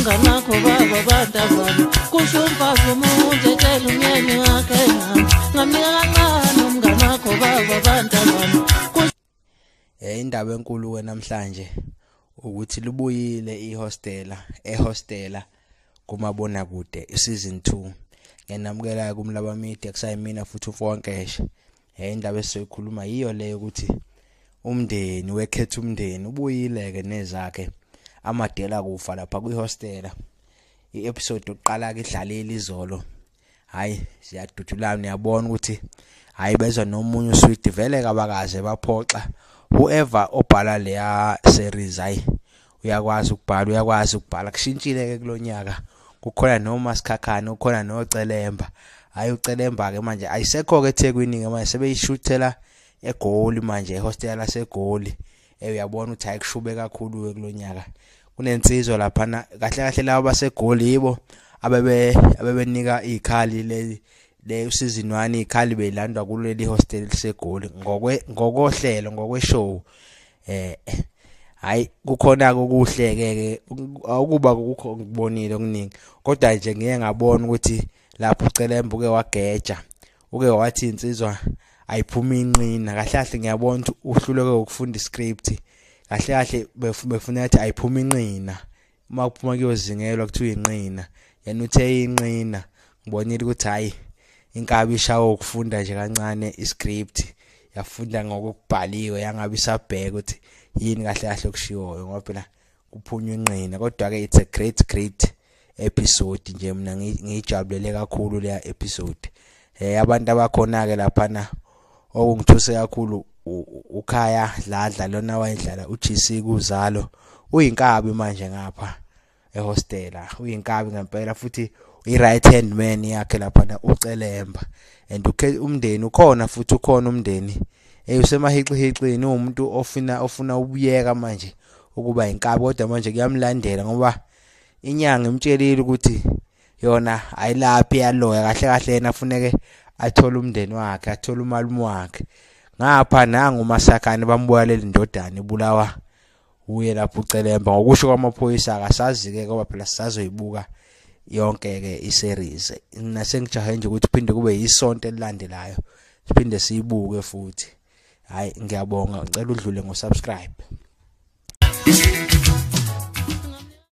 nganakho baba badazana kusho umfazi umuntu etshela umyeni wakhe ngami ngamnika kancane umngane wakho baba badazana eh indaba enkulu ke namhlanje ukuthi libuyile ihostela ehostela kumabona kude season 2 ngenamukela kumlaba media kusayimina futhi ufonkeshe hey indaba esizoyikhuluma yiyo leyo ukuthi umndeni wekhetha umndeni ubuyileke nezakhe amadela kufa lapha kwihostela i-episode yokuqala ke idlalile izolo hayi ziyadudulana uyabona ukuthi hayi bezwa nomunye uswidi vele kabakaze baphoxa whoever obhala leya series hayi uyakwazi ukubhala uyakwazi ukubhala kushintshile ke kulonyaka kukhona noma sikhakhana ukhona nocelemba hayi ucelemba ke manje ayisekho ke eThekwini ke manje sebeyishuthela egoli manje ehostel lasegoli eh uyabona ukuthi hayi kushube kakhulu ke kulonyaka kunensizwa lapha kahle kahle labo basegoli yibo abebe abebenika ikhali le le usizinwani ikhali beyilandwa kuleli hostel segoli ngokwe ngokohlelo ngokweshow eh hayi kukhona kokuhle ke akuba kukho ngibonile okuningi kodwa nje ngiye ngabona ukuthi lapho ucelemba uke wageja uke wathi insizwa ayiphuma inqina kahle kahle ngiyabona ukuthi uhluleke ukufunda iscript kahle kahle befuna ukuthi ayiphuma inqina uma kuphuma kuyozingelwa kuthiwa inqina yena uthe inqina ngibonile ukuthi hhayi inkabi ishawa ukufunda nje kancane iscript yafunda ngokubhaliwe yangabe isabheka ukuthi yini kahle kahle okushiwoyo ngoba phela kuphunywa inqina kodwa-ke it's a great great episode nje mina ngiyijabulele kakhulu leya episode eh abantu abakhona-ke laphana okungithuse kakhulu ukhaya dladla lona wayedlala uGC kuzalo uyinkabi manje ngapha ehostela uyinkabi ngempela futhi i-right hand man yakhe laphana ucelemba and umndeni ukhona futhi ukhona umndeni eyusemahixihixini uwumuntu ofuna ofuna ubuyeka manje ukuba inkabi kodwa manje kuyamlandela ngoba inyanga imtshelile ukuthi yona ayilaphi yaloya kahle kahle yena funeke athole umndeni wakhe athole umalume wakhe ngapha nangu umasakhane bambuya leli ndodana ibulawa uye lapho ucelemba ngokusho kwamaphoyisa akasazi-ke ngoba phela sisazoyibuka yonke-ke i-series nasengijahe nje ukuthi phinde kube yisonto elilandelayo siphinde siyibuke futhi hhayi ngiyabonga ngicela udlule ngo-subscribe